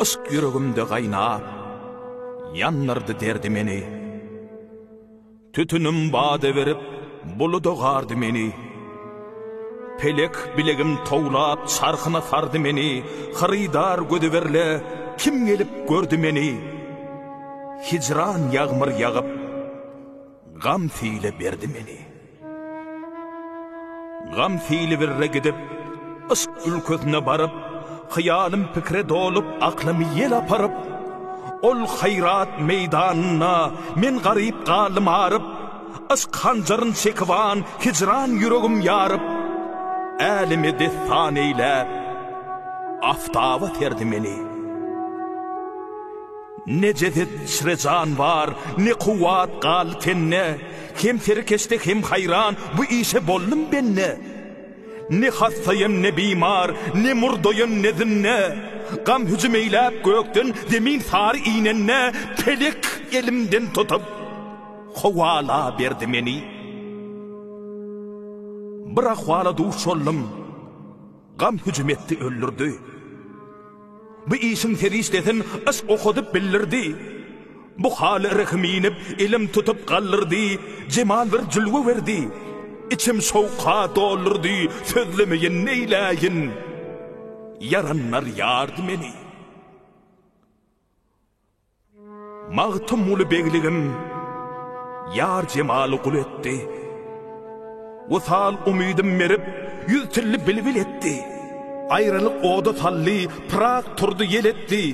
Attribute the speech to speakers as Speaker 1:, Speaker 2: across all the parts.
Speaker 1: Yşk ýüregimde gaýnap, ýandyrdy derdi meni. Tütünim bada berip, buluda gardy meni. Pelek bilegim towlap, çarhyna sardy meni. Hyrydar gözi berle, kim gelip gördi meni. Hijran ýagmyr ýagyp, Gam sile berdi meni. Gam sile birre gidip, yşk ülkesine baryp, hyýalym pikire dolup, aklymy ýel aparyp, ol haýrat meýdanynda men garyp galdym aryp, yşk hanjaryn çekiban hijran ýüregim ýaryp, äleme dessan eýläp, aftaba serdi meni. Ne jeset içre jan bar, ne kuwwat galdy tende, Hem serkeşde, hem haýran, bu işe boldum bende. Ne hassaýan, ne bimar, ne murdaýan, ne zünne, Gam hüjüm eýläp gökden, zemin sary inende, Pelek elimden tutup, kowalaberdi meni. Bir ahwala duş boldum. Gam hüjüm etdi öldürdi. Bu işiň serişdesin yşk okadyp bildirdi. Bu haly rehim inip, elim tutup galdyrdy, Jemal bir jülge berdi. Içim şowka doldurdy, sözlemeýin neýläýin. Ýaranlar ýardy meni. Magtymguly begligim ýar jemaly gul etdi. Wysal umydym merip, ýüz tilli bilbil etdi. Aýralyk oda saldy, pyrak turdy ýel etdi.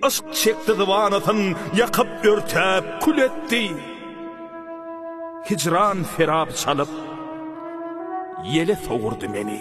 Speaker 1: Yşk çekdi zybanasyn, ýakyp, örtäp, kül etdi. Hijran serap çalyp, ýele sowurdy meni.